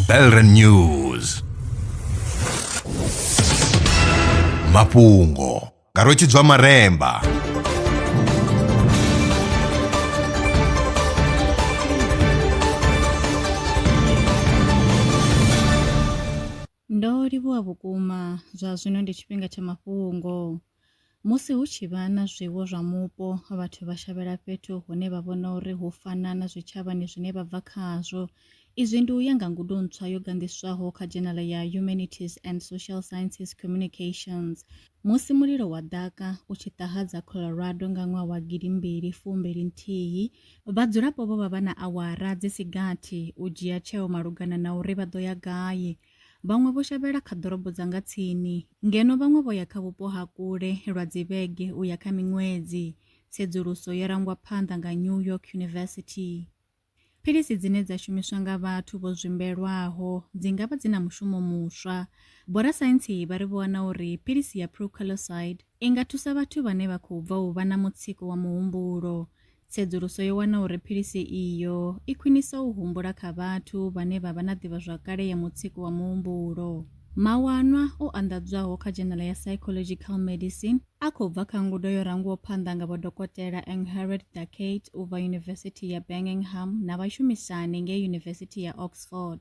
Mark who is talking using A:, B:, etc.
A: Belren News mafhungo nga rwetshidzwa maremba
B: ndo livhuwa vhukuma zwa zwino ndi tshifhinga tsha mafhungo Musi hu tshi vha na zwiwo zwa mupo, vhathu vha shavhela fhethu hune vha vhona uri hu fana na zwitshavhani zwine vha bva khazwo. Izwi ndi u ya nga ngudo ntswa yo ganḓiswaho kha dzhenala ya Humanities and Social Sciences Communications. Musi mulilo wa ḓaka u tshi ṱahadza Colorado nga ṅwaha wa gidi mbili fu mbili nthihi, vhadzulapo vho vha vha na awara dzi si gathi u dzhia tsheo malugana na uri vha ḓo ya gai. Vhaṅwe vho shavhela kha ḓorobo dza nga tsini, ngeno vhaṅwe vho ya kha vhupo ha kule lwa dzivhege u ya kha miṅwedzi, tsedzuluso yo rangwa phanḓa nga New York University. Philisi dzine dza shumiswa nga vhathu vho zwimbelwaho dzi nga vha dzi na mushumo muswa. Vhorasaintsi vha ri vho wana uri philisi ya prucaloxide I nga thusa vhathu vhane vha khou bva u vha na mutsiko wa muhumbulo. Tsedzuluso yo wana uri philisi iyo i khwinisa u humbula kha vhathu vhane vha vha na ḓivhazwakale ya mutsiko wa muhumbulo. Mawanwa o anḓadzwaho kha dzhenala ya Psychological Medicine a khou bva kha ngudo yo rangwaho phanḓa nga Vho Dokotela Angharad Dakate u bva Yunivesithi ya Birmingham na vhashumisani ngei Yunivesithi ya Oxford.